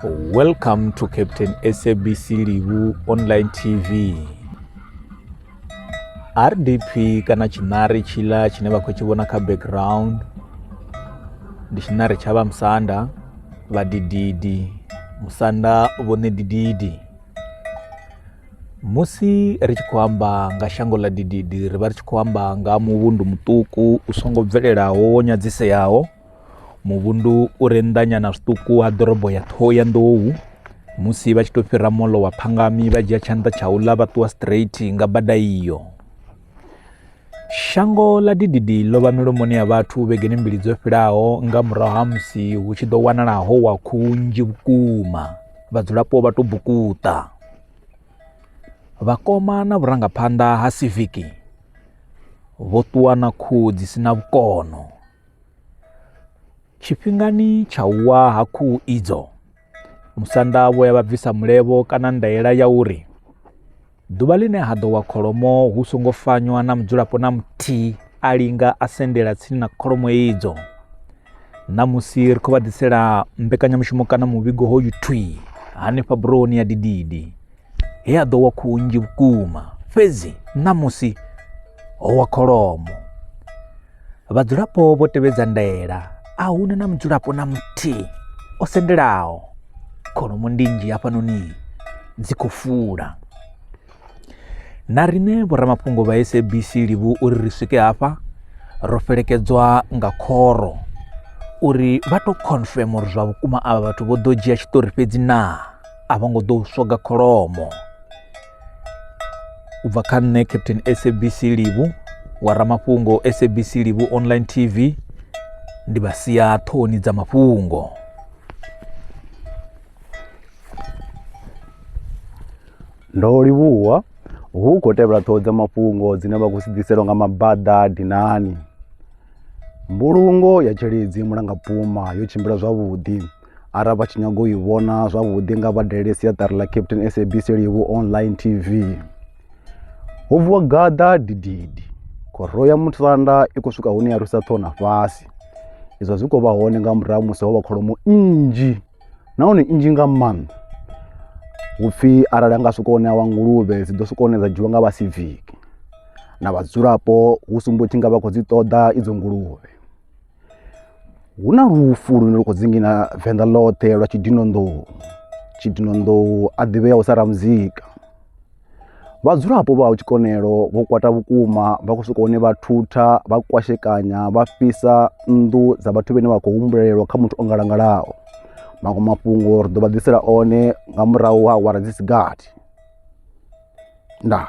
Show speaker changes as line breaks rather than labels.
Welcome to Captain SABC Livu Online TV. RDP kana tshinari tshila tshine vha khou tshi vhona kha background ndi tshinari tsha vha musanda vha dididi musanda vhone dididi musi ri tshi khou amba nga shango ḽa dididi ri vha ri tshi khou amba nga muvhundu muṱuku u songo bvelelaho wo nyadziseaho Muvhundu u re nnḓanyana zwiṱuku ha ḓorobo ya Ṱhohoyanḓou. Musi vha tshi tou fhira moḽo wa Phangami vha dzhia tshanḓa tsha uḽa vha ṱuwa straight nga bada iyo. Shango ḽa dididi ḽo vha milomoni ya vhathu vhegeni mbili dzo fhilaho nga murahu ha musi hu tshi ḓo wanala ho wa khuhu nnzhi vhukuma vhadzulapo vha tou bukuṱa. Vhakoma na vhurangaphanḓa ha civic vho ṱuwa na khuhu dzi si na vhukono. Tshifhingani tsha u wa ha khuhu idzo, musanda vho ya vha bvisa mulevho kana ndaela ya uri ḓuvha ḽine ha ḓo wa kholomo hu songo fanywa na mudzulapo na muthihi a linga a sendela tsini na kholomo idzo. Ṋamusi ri khou vha ḓisela mbekanyamushumo kana muvhigo hoyu thwi hanefha burohoni ya Dididi he a ḓo wa khuhu nnzhi vhukuma fhedzi ṋamusi ho wa kholomo. Vhadzulapo vho tevhedza ndaela a huna na mudzulapo na muthihi o sendelaho kholomo ndinzhi hafhanoni dzi khou fula na riṋe vhoramafhungo vha sabc livhu uri ri swike hafha ro felekedzwa nga khoro uri vha tou confirm uri zwa vhukuma avha vhathu vho ḓo dzhia tshiṱori fhedzi naa a vho ngo ḓo u swoga kholomo u bva kha nṋe captain sabc livhu wa ramafhungo sabc livhu online tv ndi vha sia ṱhohoni dza mafhungo
ndo livhuwa hu khou tevhela ṱhoho dza mafhungo dzine vha khou si ḓiselwa nga mabaḓa dinani mbulungo ya tsheledzi mulangapuma yo tshimbila zwavhuḓi Arali vha tshi nyaga u i vhona zwavhuḓi nga vha dalele siaṱari ḽa Captain SABC Livhu Online TV. Ho vuwa gaḓa dididi, khoro ya musanda i khou swika hune ya rwisa ṱhoho na fhasi. Izwo zwi khou vha hone nga murahu musi ho vha kholomo nnzhi nahone nnzhi nga maanḓa. Hu pfhi arali ha nga swika hune ha wa nguluvhe dzi ḓo swika hune dza dzhiwa nga vha siviki na vhadzulapo hu sumbo tshi nga vha khou dzi ṱoḓa idzo nguluvhe. Hu na lufu lune lu khou dzinginya Venḓa ḽoṱhe lwa tshidinonḓou, tshidinonḓou a ḓivheaho sa Ramuzika. Vhadzulapo vha ha Tshikonelo vho kwata vhukuma vha khou swika hune vha thutha, vha kwashekanya, vha fhisa nnḓu dza vhathu vhane vha khou humbulelwa kha muthu o ngalangalaho. Maṅwe mafhungo ri ḓo vha ḓisela one nga murahu ha awara dzi si gathi. Ndaa.